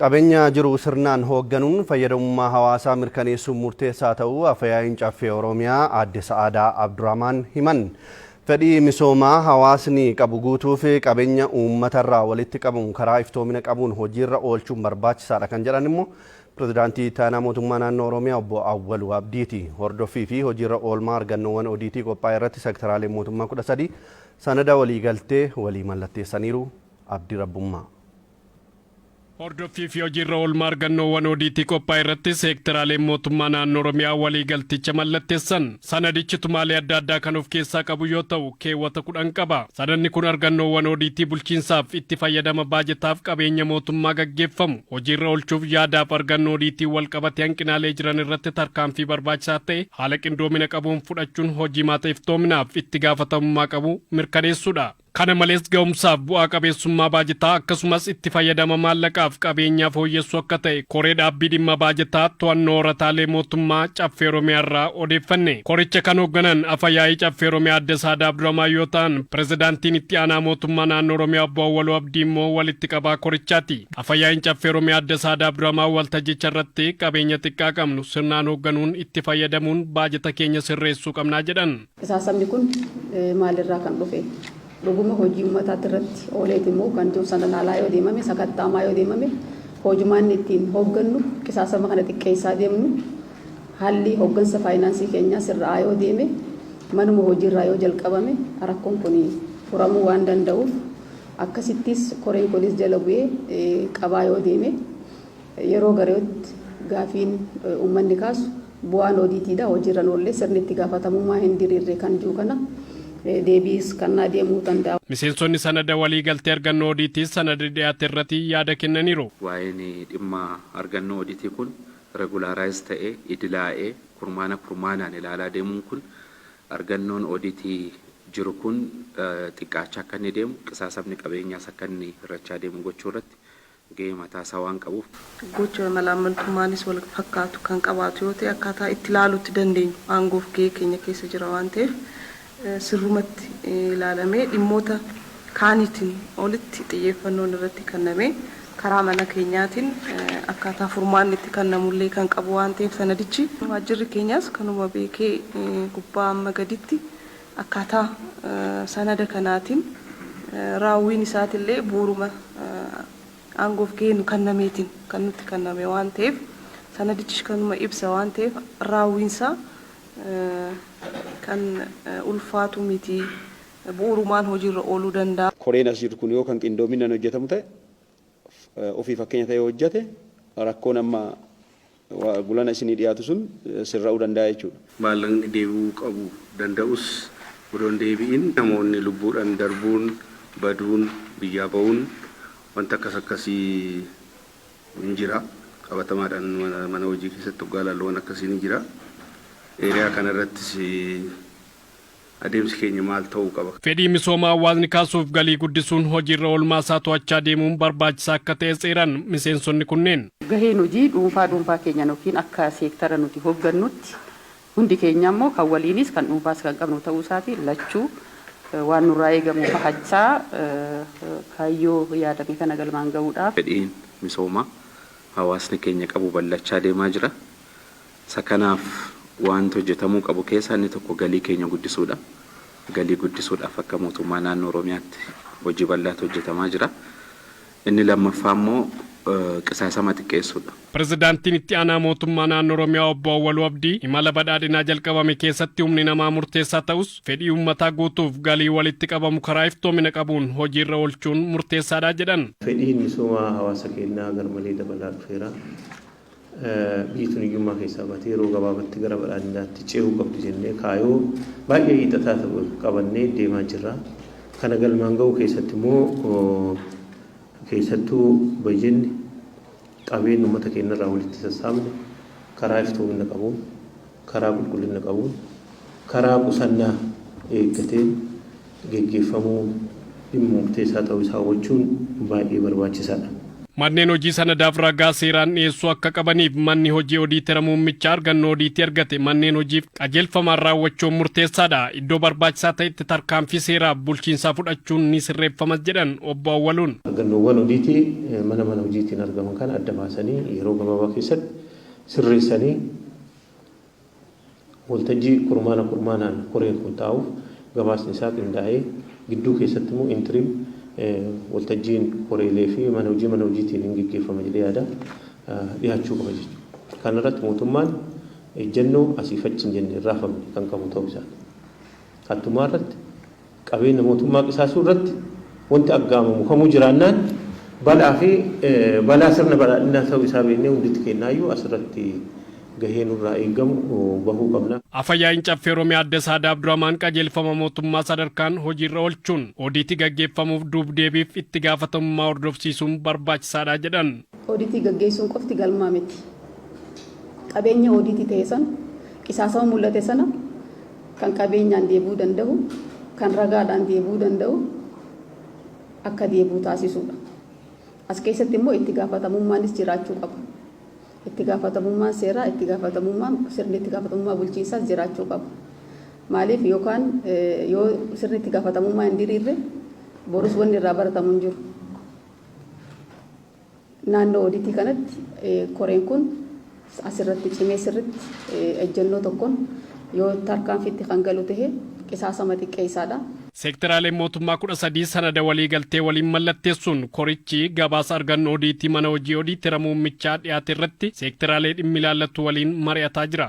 Qabeenya jiru sirnaan hoogganuun fayyadamummaa hawaasaa mirkaneessuun murteessaa ta'uu Afayaa'iin Caffee Oromiyaa Aadde Sa'aadaa Abdurahmaan himan. Fedhii misoomaa hawaasni qabu guutuuf qabeenya uummatarraa walitti qabamu karaa iftoomina qabuun hojiirra oolchuun barbaachisaadha kan jedhan immoo Pirezidaantii Itti Aanaa Mootummaa Naannoo Oromiyaa Obbo Awwaluu Abdiiti. Hordoffii fi hojiirra oolmaa argannoowwan odiitii qophaa'e irratti sektaraaleen mootummaa 13 sanada waliigaltee walii mallatteessaniiru. Abdi Rabbummaa. Hordoffii fi hojiirra oolmaa argannoowwan odiitii qophaa'e irratti seekteraaleen mootummaa naannoo Oromiyaa waliigalticha mallattessan. Sanadichi tumaalee adda addaa kan of keessaa qabu yoo ta'u, keewwata 10 qaba. Sanadni kun argannoowwan odiitii bulchiinsaaf, itti fayyadama baajataaf qabeenya mootummaa gaggeeffamu hojiirra oolchuuf yaadaaf argannoo odiitiin walqabate hanqinaalee jiran irratti tarkaanfii barbaachisaa ta'e haala qindoomina qabuun fudhachuun hojiimaata iftoominaaf itti gaafatamummaa qabu mirkaneessuudha. Kana malees ga'umsaaf bu'aa qabeessummaa baajetaa akkasumas itti fayyadama maallaqaaf qabeenyaa fooyyessuu akka ta'e koree dhaabbii dhimma baajetaa to'annoo horataalee mootummaa caffee Oromiyaa irraa odeeffanne. Koricha kan hoogganan afa yaa'ii caffee Oromiyaa adde Saadaa Abdurahmaan yoo ta'an pirezidaantiin itti aanaa mootummaa naannoo Oromiyaa obbo Awwaluu Abdii immoo walitti qabaa korichaati. Afa yaa'iin caffee Oromiyaa adde Saadaa Abdurahmaan waltajjicha irratti qabeenya xiqqaa qabnu sirnaan hoogganuun itti fayyadamuun baajeta keenya sirreessuu qabnaa jedhan. Qisaasamni kun maalirraa kan dhufe? Dhuguma hojii ummataatti irratti ooleeti moo kan jiru sanaan alaa yoo deemame, sakatta'amaa yoo deemame hoojumaanni ittiin hooggannu qisaasama kana xiqqeessaa deemnu, haalli hooggansa faayinaansii keenyaa sirra'aa yoo deeme, manuma hojiirraa yoo jalqabame rakkoon kun furamuu waan danda'uuf akkasittis koreen kunis jala bu'ee qabaa yoo deeme. Yeroo gariyootti gaafiin uummanni kaasu bu'aan odiitiidha hojiirra hin oolle, sirni itti gaafatamummaa hin diriirre kan jiu kana deebiis kannaa deemuu danda'a. Miseensonni sanada waliigaltee argannoo odiitii sanada dhiyaate irrati yaada kennaniiru. Waa'een dhimma argannoo odiitii kun regulaarize ta'ee, idilaa'ee, kurmaana kurmaanaan ilaalaa deemuun kun argannoon odiitii jiru kun xiqqaachaa akka inni deemu, qisaasamni qabeenyaas akka inni hirrachaa deemu gochuu irratti gahee mataa isaa waan qabuuf. Gocha malaammaltummaanis wal fakkaatu kan qabaatu yoo ta'e akkaataa itti ilaaluutti dandeenyu aangoo fi gahee keenya keessa jira waan ta'eef sirrumatti ilaalamee dhimmoota kaaniitiin olitti xiyyeeffannoon irratti kannamee karaa mana keenyaatiin akkaataa furmaanni itti kannamu illee kan qabu waan ta'eef sanadichi waajjirri keenyaas kanuma beekee gubbaa amma gaditti Akkaataa sanada kanaatiin raawwiin isaatillee bu'uuruma aangoof gahee nu kannameetiin kan nutti kanname waan ta'eef sanadichis kanuma ibsa waan ta'eef raawwiinsaa kan ulfaatu miti, bu'uurumaan hojiirra ooluu danda'a. Koreen as jiru kun yoo kan qindoominaan hojjetamu ta'e, ofii fakkeenya ta'ee hojjete rakkoon amma. gulana isinii dhiyaatu sun sirra'uu danda'a jechuudha. Maallaqni deebi'uu qabu danda'us odoo hin deebi'in namoonni lubbuudhan darbuun, baduun, biyyaa ba'uun wanti akkas akkasii ni jira. Qabatamaadhan mana hojii keessatti oggaa ilaallu waan akkasii ni jira. Area kana irrattis Adeemsi keenya maal ta'uu qaba? Fedhii misoomaa hawaasni kaasuuf galii guddisuun hojiirra oolmaa isaa to'achaa deemuun barbaachisaa akka ta'es eeran miseensonni kunneen. Gaheen hojii dhuunfaa dhuunfaa keenyan ykn akka seektara nuti hoggannutti hundi keenyaa immoo kan waliinis kan dhuunfaas kan qabnu ta'uu isaatiin lachuu waan nurraa eegamu bahachaa kaayyoo yaadame kana galmaan gahuudhaaf. Fedhiin misoomaa hawaasni keenya qabu bal'achaa deemaa jira. Isa kanaaf waanti hojjetamuu qabu keessaa inni tokko galii keenya guddisuudha. Galii guddisuudhaaf akka Mootummaa Naannoo Oromiyaatti hojii bal'aatu hojjetamaa jira. Inni lammaffaa immoo qisaasama xiqqeessuudha. Pirezidaantiin Itti Aanaa Mootummaa Naannoo Oromiyaa Obbo Awwaluu Abdii, imala badhaadhinaa jalqabame keessatti humni namaa murteessaa ta'us, fedhii uummataa guutuuf galii walitti qabamu karaa iftoomina qabuun hojiirra oolchuun murteessaadha jedhan. Fedhiin misoomaa hawaasa keenyaa garmalee dabalaa dhufeera. Biyyi tun hiyyummaa keessaa baatee yeroo gabaabatti gara badhaadhinaatti cehuu qabdi jennee kaayoo baay'ee hiixataa ta'e qabannee deemaa jirra. Kana galmaan gahuu keessatti immoo keessattuu bajenni qabeenyi ummata keenya irraa walitti sassaabne karaa iftoominna qabuun, karaa qulqullina qabuun, karaa qusannaa eeggateen geggeeffamuu dhimma murteessaa ta'uu isaa hubachuun baay'ee barbaachisaa dha. Manneen hojii sanadaaf ragaa seeraan dhiyeessuu akka qabaniif manni hojii odiitera muummichaa argannoo odiitii argate manneen hojiif qajeelfamaan raawwachuun murteessaa dha. Iddoo barbaachisaa ta'etti tarkaanfii seeraaf bulchiinsaa fudhachuun ni sirreeffamas jedhan Obbo Awwaluun. Argannoowwan odiitii mana mana hojiitiin argaman kana adda baasanii yeroo gabaabaa keessatti. sirreessanii waltajjii kurmaana kurmaanaan koreen kun taa'uuf gabaasni isaa qindaa'ee gidduu keessatti immoo interim waltajjiin koreelee fi mana hojii mana hojiitiin hin geggeeffama jedhee yaada dhiyaachuu qaba jechuudha. Kana irratti mootummaan ejjennoo asiif achi hin jenne hin raafamne kan qabu ta'uu isaati. Hattumaa irratti Qabeenya mootummaa qisaasuu irratti wanti aggaamamu kamuu jiraannaan balaa fi balaa sirna badhaadhinaa ta'uu isaa beeknee hunditi keennaayyu as irratti gahee nurraa eeggamu bahuu qabna. Afa-yaa'iin Caffee Oromiyaa Adde Saadaa Abdurahmaan qajeelfama mootummaa sadarkaan hojiirra oolchuun odiitii gaggeeffamuuf duub-deebiif itti gaafatamummaa hordofsiisuun barbaachisaadha jedhan. Odiitii gaggeessuun qofti galma miti. Qabeenya odiitii ta'e sana, qisaasama mul'ate sana kan qabeenyaan deebi'uu danda'u, kan ragaadhaan deebi'uu danda'u akka deebi'u taasisuudha. As keessatti immoo itti gaafatamummaanis jiraachuu qaba. Itti gaafatamummaan seeraa, itti gaafatamummaan sirni itti gaafatamummaa bulchiinsaas jiraachuu qaba. Maaliif yookaan yoo sirni itti gaafatamummaa hin diriirre borus wanni irraa baratamu hin jiru. Naannoo odiitii kanatti koreen kun as irratti cimee sirritti ejjennoo tokkon yoo tarkaanfiitti kan galu tahe qisaasama xiqqeessaa dha. Seekteraaleen mootummaa 13 sanada waliigaltee waliin mallatteessuun korichi gabaasa arganno odiitii mana hojii odiitera muummichaa dhiyaate irratti seekteraalee dhimmi ilaallatu waliin mari'ataa jira.